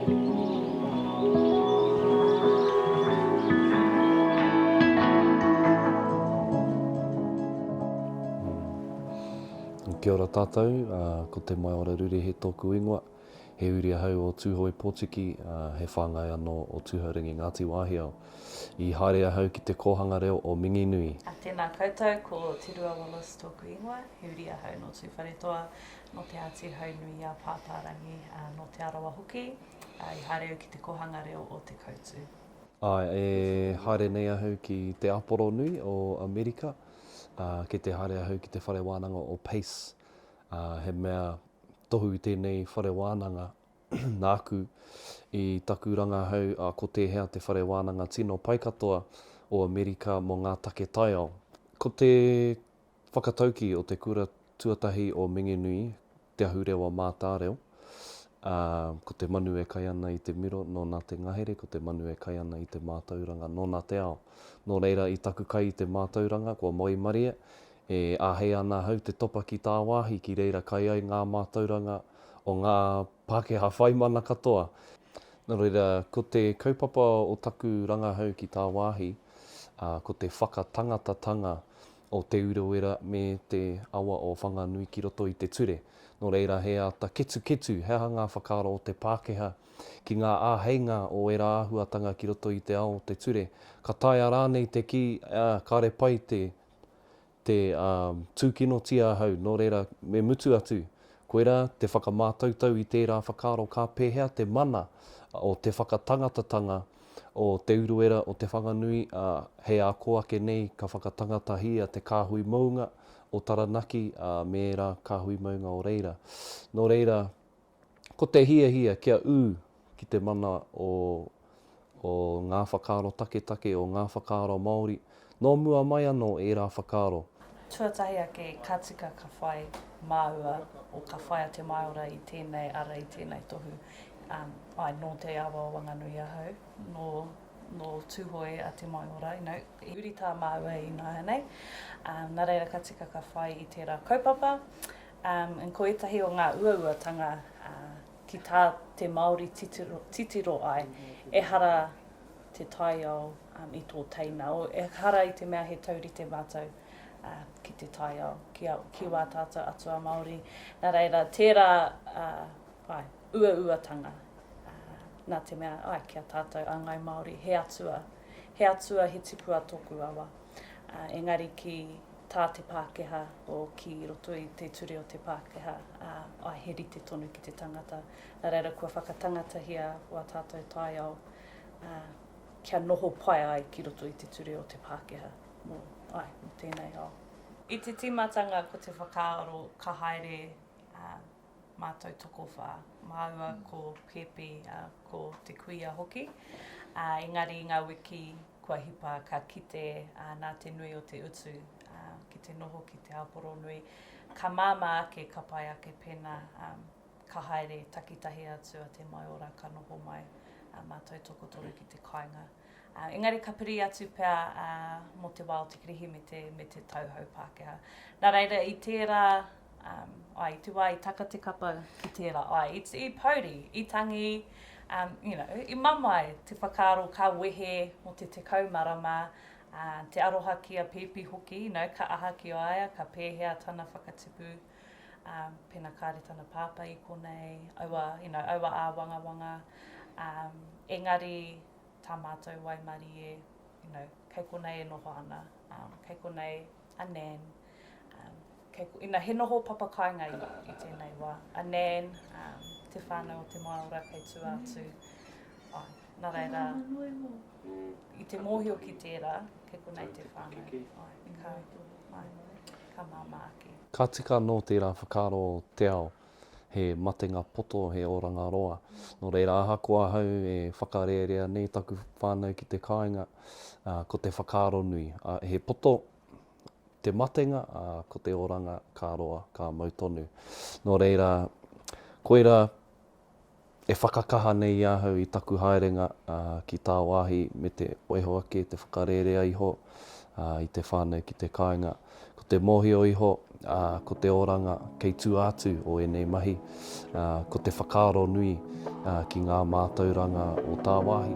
Kia ora tātou, ko Te Maiora Rurehe tōku ingoa. He uri ahau o Tūhoe Pōtiki, he whāngai anō o Tūhourangi Ngāti Wāhiao. I haere ahau ki te kōhanga reo o Minginui. Tēnā koutou, ko Te Rua Wallace tōku ingoa. He uri ahau nō Tūwharetoa, nō Te Āti Haunui-a-Pāpārangi, ā, nō Te Arawa hoki, ā, i haere au ki te Kōhanga Reo o Te Koutu. Āe, e haere nei ahau ki te Aporonui o Amerika, ā, kei te haere ahau ki te whare wānanga o Pace, ā, he mea tohu tēnei whare wānanga nāku i taku rangahau, ā, ko tēhea te whare wānanga tino pai katoa o Amerika mō ngā take taiao. Ko te whakataukī o te kura tuatahi o Minginui, Te Ahurewa Mātāreo, ā, ko te manu e kai ana i te miro, nōna te ngahere, ko te manu e kai ana i te mātauranga, nōna te ao. Nō reira, i taku kai i te mātauranga, kua moemaria, e āhei ana ahau te topa ki tāwāhi, ki reira kai ai ngā mātauranga o ngā Pākehā whaimana katoa. Nō reira, ko te kaupapa o taku rangahau ki tāwāhi, ā, ko te whakatangatatanga o Te Urewera me te awa o Whanganui ki roto i te ture. Nō reira, he āta ketuketu he aha ngā whakaaro o te Pākehā ki ngā āheinga o ērā āhuatanga ki roto i te ao o te ture. Ka taea rānei te kī, ā, kāre pai te, te, ā, tūkinotia ahau, nō reira, me mutu atu. Koirā, te whakamātautau i tērā whakaaro ka pēhea te mana o te whakatangatatanga o Te Uruera o Te Whanganui, ā, hei ako ake nei ka whakatangatahia te kāhui mounga o Taranaki, ā, me ērā kāhui mounga o reira. Nō reira, ko te hiahia kia ū ki te mana o, o ngā whakaaro taketake, o ngā whakaaro Māori, Nō mua mai anō ērā whakaaro. Tuatahi ake ka tika ka whai māua o ka whai a Te Maora i tēnei ara i tēnei tohu. Āe, nō Te Awa o Wanganui ahau, nō Tūhoe a Te Maora, i huri tā māua ināianei. Nā reira ka tika ka whai i tērā kaupapa. Ko ētahi o ngā uauatanga ki tā te Māori titiro ai, ehara te taiao um, i tō teina. O, ehara i te mea he taurite mātou uh, ki te taiao, ki, a, ki wā tātou atua Māori. Nā reira, tērā uh, ai, uauatanga uh, nā te mea ai ki a tātou a Ngai Māori, he atua, he atua, he tipua tōku awa. Uh, engari ki tā te Pākehā o ki roto i te ture o te Pākehā, uh, ai he rite tonu ki te tangata. Nā reira, kua whakatangatahia wā tātou taiao, kia noho pai ai ki roto i te ture o te Pākehā mō tēnei ao. I te tīmatanga ko te whakaaro ka haere mātou tokowhā, māua ko Pēpi, ko te kuia hoki, engari i ngā wiki kua hipa ka kite nā te nui o te utu ki te noho ki te ao poronui, ka māmā ake ka pai ake pēnā. Ka haere takitahi atu a Te Maiora ka noho mai a mātou tokotoru ki te kāinga. Engari ka piri atu pea mō te wā o te Kirihimete me te tauhou Pākehā. Nā reira i tērā, ā, i te wā i taka te kapa ki tērā, ā, i pouri, i tangi, you know, i mamae te whakaaro ka wehe mō te tekau marama, ā, te aroha ki a Pēpi hoki, you know, ka aha ki a ia, ka pēhea tana whakatipu. ā, pēnā kāre tana pāpā i konei, aua, you know, aua āwangawanga, ā, engari tā mātou waimarie, you know, kei konei e noho ana, ā, kei konei a Nan, ā, kei, you know, he noho papa kāinga i, i tēnei wā, a Nan, ā, te whānau o te Māora kei tua atu, āe, nā reira, i te mōhio ki tērā, kei konei te whānau, āe, kāre, āe. ka māmā ake. Ka tika anō tērā whakaaro o te ao, he matenga poto, he oranga roa. Nō reira, ahakoa ahau e whakarērea nei taku whānau ki te kāinga, ko te whakaaro nui, he poto te matenga, ā, ko te oranga ka roa, ka mau tonu. Nō reira, koirā E whakakaha nei ahau i taku haerenga ki tāwāhi me te oiho ake, te whakarērea iho i te whānau ki te kāinga. Ko te mōhio iho, ko te oranga kei tua atu o ēnei mahi, ko te whakaaro nui ki ngā mātauranga o tāwāhi.